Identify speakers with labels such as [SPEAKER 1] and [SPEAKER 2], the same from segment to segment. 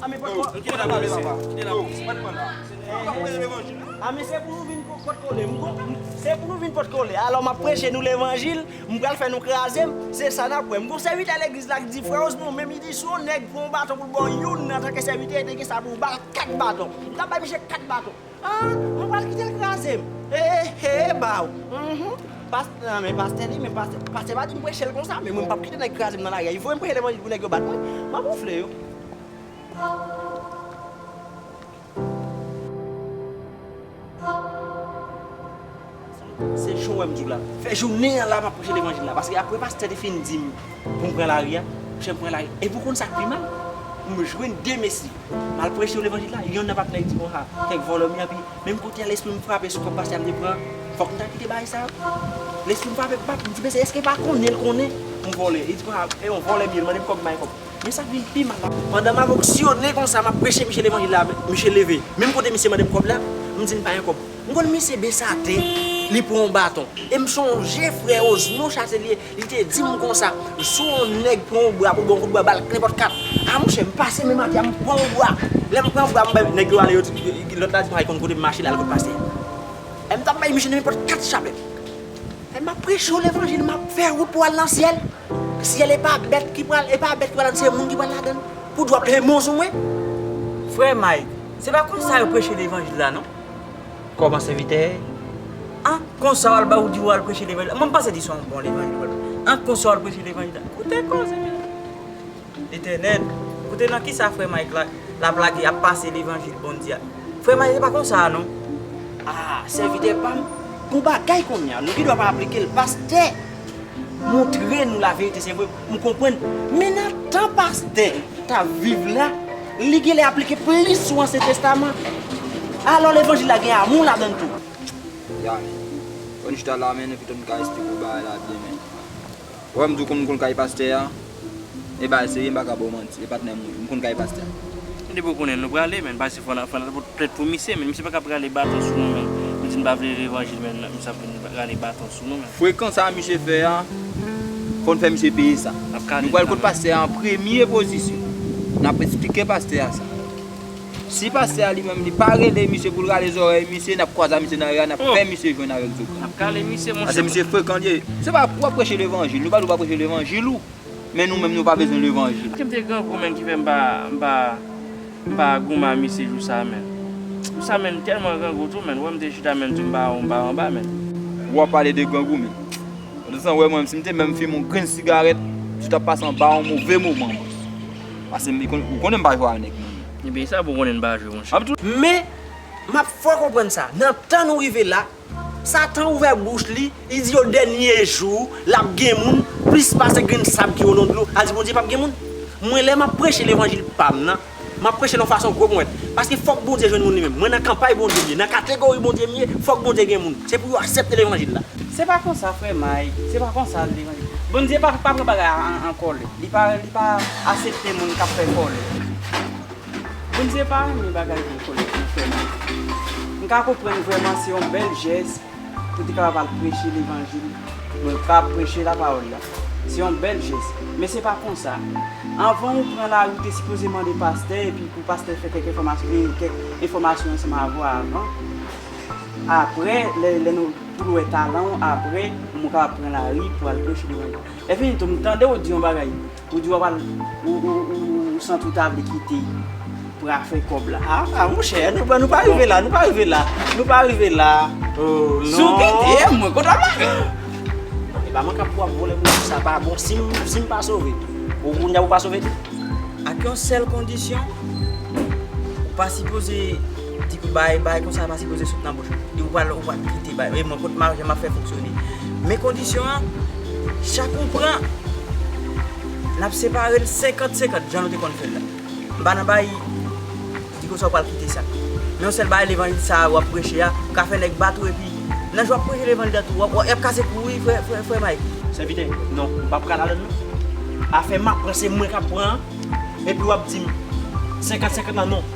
[SPEAKER 1] Amé pot
[SPEAKER 2] kole.
[SPEAKER 1] Kite la polis se. Kite la polis se. Pat pran la. Ou
[SPEAKER 2] pa preche levanjil non. Amé se pou nou vin pot kole. Se pou nou vin pot kole. Alò map preche nou levanjil. M pral fè nou krazem. Se sa nap wè. M gon sèvitè legliz la ki di frè Osmond menm li di si yon nèg pran yon baton pou l baw youn antanke sèvitè li te gen sa pou l bal 4 baton. Li tap bay misye 4 baton. Ah mwen pral kitel krazem eehee baww humm past nan men pastè li men pastè pastè pa dim prechel konsa men mwen pap kite nèg krazem nan lari a voyem preche levanjil pou nèg yo bat mwen map ronfle yo. Se jou wèm di w la. Fè jounen an la map preche levanjil la paske apre pastè te fin dim poum pran lari a, jem pran lari epi ou konn sak pi mal m jwenn 2 mesye mal preche yo levanjil la yonn nan patnè li di bon ha kèk vòlò m yo epi menm kote a lespri m frape sou kòb pastè a m te pran fòk m ta kite bagay sa yo lespri m frape bap m di mesye èske pa konnen l konnen m vòlè li di bon ha e yon vòlè m ye l mande m kòb m bay kòb men sak vin pi mal la pandan map onksyone konsa map preche misye levanjil la misye leve menm kote misye mande m kòb la m di l m pa gen kòb. M konn misye Dessalines li pran yon baton e m sonje frè Osnon Chatelier li te di m konsa si yon nèg pran w bra pou l ba w yon kout bwa ba l nenpòt kat a monchè m pase menm atè a m pran w bra lè m pran bra m bay nèg yo ale yo di lòt la di pa konn kote m mache l al kot pastè a e m t ap bay misye nenpòt kat chabèt e m ap preche w levanjil m ap fè wout pou w al nan syèl syèl e pa bèt ki pral e pa bèt ki pral ladan l se moun ki pral ladan l pou dwa p lemon sou mwen. Frè
[SPEAKER 3] Mike, se pa konsa yo preche levanjil la non. Kòman sèvitè
[SPEAKER 2] a?
[SPEAKER 3] Konsa wal ba ou di wal preche levanjil la? Mwen pa se di son bon levanjil wal preche. An konsa wal preche levanjil la? Koute koze men. Letènèl, koute nan kisa frè Mike la lap lage ap pase levanjil Bondye a. Frè Mike se pa konsa non. Aa
[SPEAKER 2] sèvitè pam bon bagay konnya nou gen dwa pa aplikel pastè moutre nou laverite se vre. M konprann, men nan tan pastè t ap viv la, li gen lè aplike plis sou Ansyen Testaman. Alò levanjil la gen amou ladan l tou.
[SPEAKER 1] Yami, Fò n chita la men, epitou n ka esplike w bagay la byen men. Ou wè m di w kòman m konn kay pastè a? E bagay serye, m pa ka ba w manti. E patnè m wi, m konn kay pastè a. Men depi w konnen,
[SPEAKER 4] nou prale men. Pase fò n al fè tèt pou misye men. Misye pa ka prale baton sou nou men. Nou di n pa vle levanjil men misye ap vin rale baton. Frekan sa misye fè
[SPEAKER 1] a, fòn fè misye peye sa. Nou pral kot pastè a an premye pozisyon. Nap esplike pastè a sa. Si pastè a li menm li pa rele misye poul rale zòrèy misye, nap kwaza misye nan ri a, nap fè misye jwenn avèk zogan. Nap kale misye monchè. Pase
[SPEAKER 4] misye frekan li ye.
[SPEAKER 1] Se pa wap preche levanjil, nou pa di w pa preche levanjil ou, men nou menm nou pa bezwen levanjil. Kem te grangou menm ki
[SPEAKER 4] fè m pa Mpa gouman misye jou sa menn. Jou sa menn telman grangou tou menn wè mte chita menn tou mpa mpa anba menn. Wap pale de
[SPEAKER 1] grangou menn. Ou te san wè mwen menn si mte menm fimen yon grenn sigarèt msye tap pase anba yon move moman menn. Pase li konnen ou konnen mpa jwe a nèg menn. Ebyen sa pou konnen
[SPEAKER 4] mpa jwe monchè. Men,
[SPEAKER 2] map fè w konprann sa, nan tan nou rive la, Satan ouvè bouch li, li di yo dènye jou lap gen moun plis pase grenn sab ki olon dlo, al di Bondye pap gen moun? Mwen lè map preche levanjil pam nan, map prechel yon fason gwo mwen, paske fòk Bondye jwenn moun li menm, mwen nan kanpay Bondye m ye, nan kategori Bondye m ye, fòk Bondye gen moun, se pou yo aksepte levanjil la. Se pa konsa frè
[SPEAKER 3] May, se pa konsa levanjil, Bondye pa pran bagay a an kòlè, li pa li pa asepte moun kap fè kòlè. Bndye pa renmen bagay bon kolèt mwen fè mal. M ka konprann vrèman se yon bèl jès pou te kapab al preche levanjil mwen pa preche la pawòl la se yon bèl jès men se pa konsa anvan ou pran lari ou te sipoze mande pastè epi pou pastè fè kèk enfòmasyon e kèk enfòmasyon ansanm avè w avan aprè lè lè nou pou l wè talan w aprè mwen kapab pran lari pou al preche levanjil lè fini tou m tande w di yon bagay Ou di wap al ou santi ou ta vle kite pou al fè kòb la. Aa monchè nou
[SPEAKER 2] pa rive la, nou pa rive la, nou pa rive la. Oh non. Si ou kite m mwen kontan
[SPEAKER 3] m la.
[SPEAKER 2] E pa mwen kap pou ap vole m nan sa pa bon sim pa sove ou kounya ou pa sove tou. Ak yon
[SPEAKER 3] sèl kondisyon ou pa sipoze Di pou bay, bay konsa pa sipoze sot nan bouch ou. Di ou pral, ou pral kite bay. E mwen kot ma, jan map fè fonksyone. Men kondisyon an, chak ou pran, nap separe l 50, 50 jan nou te konn fè l la. M pa nan bay, di konsa ou pral kite sa. Men yon sèl bagay levanjil sa a wap preche a, ou ka fè nèg bat ou epi nan jan wap preche levanjil la tou, yap kase kou ou wi frè, frè, frè Mike. Sèvitè, non,
[SPEAKER 2] m pa pran ladann non. Afè map pran se mwen kap pran an, epi wap di m 50, 50 lan non.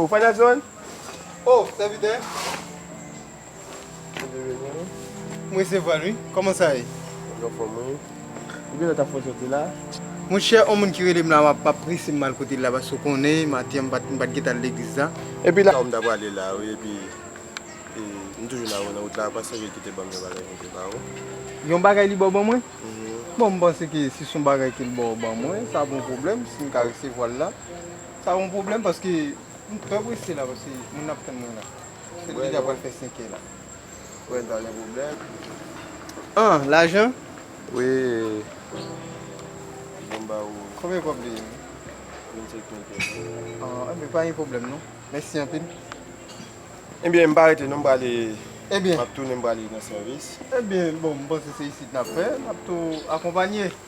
[SPEAKER 5] Ou fèt avyon an? Oh sèvitè Bondye beni
[SPEAKER 6] ou. M resevwa l wi. Kòman sa ye? Mwen anfòm wi.
[SPEAKER 5] Pou kilè w ta fè w soti la? Monchè on
[SPEAKER 6] moun ki rele m la m ap prese m al kote l la paske w konnen maten an m pa t gen tan al legliz la. Epi la ou m ta prale
[SPEAKER 5] la wi epi m toujou la nan wout la apa sèvi ki te ban m yon bagay pou m te ba ou. Yon
[SPEAKER 6] bagay li ba w ban mwen? Bon m panse ke si s on bagay ke l ba w ban mwen sa pa yon pwoblèm si m ka resevwa l la. Sa yon pwoblèm paske m trè prese la paske moun ap tann mwen la. Se depi deja pral fè 5 è la. Wè sa
[SPEAKER 5] gen pwoblèm.
[SPEAKER 6] An, lajan? Wi.
[SPEAKER 5] Bon m
[SPEAKER 6] ba ou. Konbyen kòb li ye? 25 mil pèsò. An,
[SPEAKER 5] enben pa gen pwoblèm
[SPEAKER 6] non. Mèsi anpil.
[SPEAKER 5] Enben m pa rete non m prale. Enben. M ap tounen
[SPEAKER 6] m prale
[SPEAKER 5] nan sèvis. Enben bon m
[SPEAKER 6] panse se isit n ap fè. N ap tou akonpanye.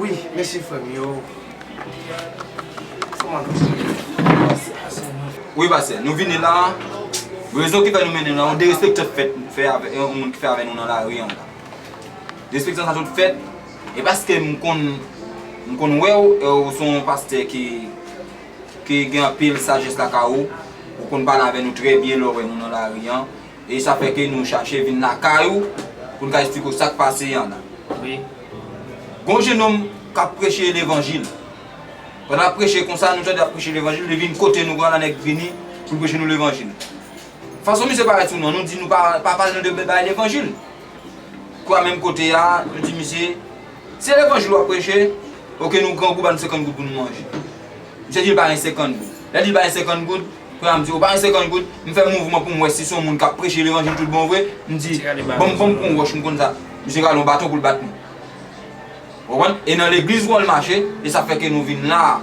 [SPEAKER 7] Wi mesi frem
[SPEAKER 1] yo. Wi pase nou vini la rezon ki fe nou mennen la yon derespeksyon t fet fe avek yon moun ki fe avek nou nan lari an la derespeksyon sa sot fet e paske m konn m konn wew e w son yon paste ki Ke gen anpil sajès lakay ou, ou konn pale avè nou trè byen lè w wè nou nan lari an, e sa fè ke nou chache vin lakay ou pou n ka esplike w sa k pase an. Gen
[SPEAKER 4] yon
[SPEAKER 1] jenòm k ap preche levanjil, pandan l ap preche konsa, nou tande l ap preche levanjil, li vin kote nou, gran nèg vini pou l preche nou levanjil. Fason misye parèt sou nou an, nou di nou pa pale nou de bay levanjil. Kwa menm kote a, nou di misye, Se levanjil wap preche ok nou grangou ba nou 50 goud pou nou manje misye di l ba li 50 goud lè di l ba li 50 goud kounye a m di ou ba li 50 goud m fè mouvman pou m wè si son moun kap preche levanjil tout bon vre m di banm banm pran yon wòch m konn sa misye rale yon baton pou l bat mwen ou konprann e nan legliz wòl mache e sa fè ke nou vin la a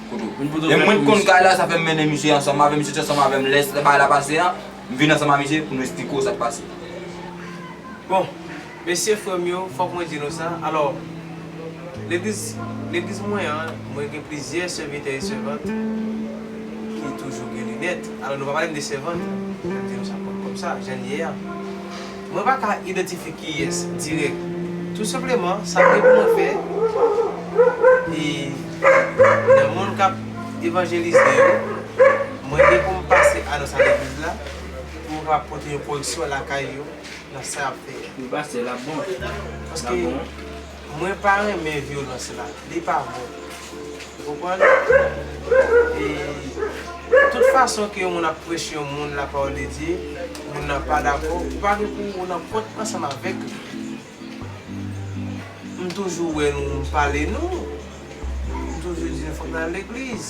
[SPEAKER 1] poto e mwen t konn kay la sa fè m mennen misye ansanm avè m misye t ansanm avè m lè bagay la pase a m vin ansanm a misye pou nou esplike w sak pase
[SPEAKER 7] bon. Mesye frè m yo, fòk mwen di nou sa, alò, legliz, legliz mwen an, mwen gen plizyè sèvitè e sèvant ki toujou gen linèt, alò nou pa pale m de sèvant, fè m di nou sa kòm, kòm sa, jan l ye a. Mwen pa ka idantifye kiyès, dirèk. Tou senpleman, sa m gen pou mwen fè, e, nan moun k ap evanjelize yo, mwen gen pou m pase anons a legliz la, pou m kapab pote yon koreksyon lakay yo. nan sa yap fè a. Wi
[SPEAKER 4] pastè lap bon
[SPEAKER 7] lap bon. Mwen pa renmen vyolans la li pa bon ou konprann e tout fason ke yon moun ap preche yon moun la parole de Dieu moun nan pa dakò ou pa gen pou ou nan pòt ansanm avèk li m toujou wè nou m pale nou M toujou di nou fòk nou al legliz.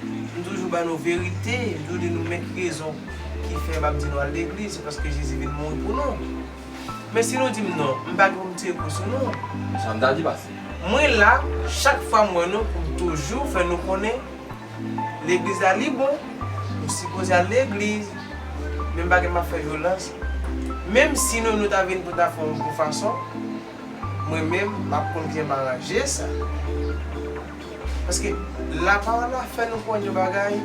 [SPEAKER 7] M toujou ba nou verite. M toujou di nou men ki rezon ki fè m ap di nou al legliz. Se paske Jezi vin mouri pou nou. Men si nou di m non, m pa gen pou m tire kou sou nou.
[SPEAKER 1] Mwen la
[SPEAKER 7] chak fwa m wè nou pou m toujou fè nou konnen legliz la li bon. Nou sipoze al legliz. Men m pa gen pou m ap fè vyolans. Menm si nou nou ta vin pou ta fè yon bon fason. Mwen menm map konn byen maranje sa. Paske la pawòl la fè nou konn yon bagay,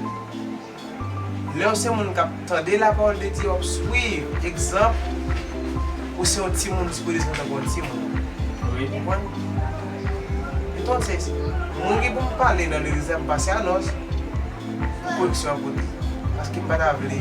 [SPEAKER 7] lèw se moun kap tande la pawòl de Dye wap swiv egzanp, ou se yon timoun si pwede se kontan pou yon timoun. Ou konprann? Entonces, mwen gen poum pale nan legliz la m pase anons pou koreksyon an pote. Paske m pata vle.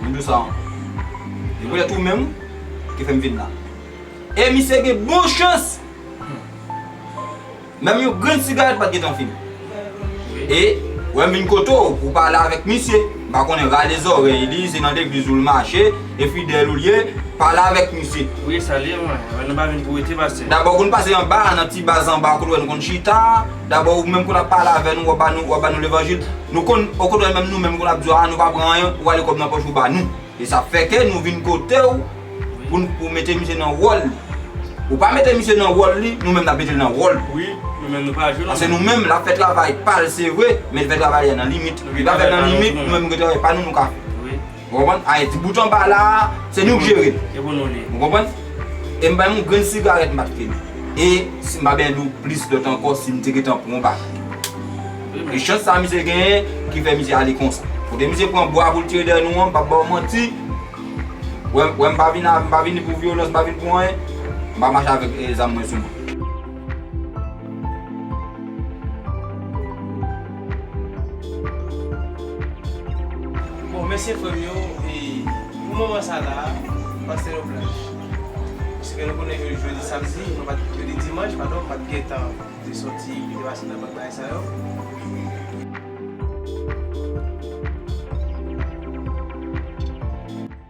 [SPEAKER 1] Mwen dou sa ankò. Se pou tèt ou menm ki fè m vin la. E misye gen bon chans! Menm yon grenn sigarèt pa t gentan fimen. E, wè m vin kote w pou w pale avèk misye. M pa konnen rale zòrèy li, se nan legliz ou l mache, e fidèl ou l ye, pale avèk misye. Wi, salye mwen.
[SPEAKER 4] Mwen pa vin pou rete, pastè. Dabò, konn pase anba a,
[SPEAKER 1] nan ti baz anba a kote w wè nou konn chita a. Dabò ou menm konn ap pale avè nou, wap bannou, wap bannou levanjil, nou konn, okontrè menm nou menm konn ap di w a nou pa pran anyen, ou ale kòb nan pòch ou bannou. E sa fè ke nou vin kote w pou n, pou mete misye nan wòl li. Ou pa mete misye nan wòl li, nou menm nap mete l nan wòl nou. Wi, nou menm nou pa
[SPEAKER 4] jwe nan. Pase nou menm lap fè
[SPEAKER 1] travay pa l se vre, men l fè travay li a nan limit. Li pa fè l nan limit, nou menm nou gen travay pa nou nou ka fè. Ou konprann? Ayiti bout anba la a, se nou k jere l. Se pou nou li. Ou konprann? E m bay m yon grenn sigarèt m ap fini. E si m pa byen di w plis lòt ankò si m te gentan pran yon bagay. E chans sa a misye genyen ki fè misye ale konsa. Kote misye pran bwa pou l tire dèyè nou an, m p ap ba w manti. Ou wè m pa vini pou vyolans, m pa vini pou anyen. M pa mache avèk zam mwen sou mwen.
[SPEAKER 7] Bon mèsi frèm yo e pou moman sa la pase nou blanch paske nou konnen ke jodi samdi nou pat jodi dimanch padon nou pat gentan te sòti pou te pase nan lòt bagay sa yo.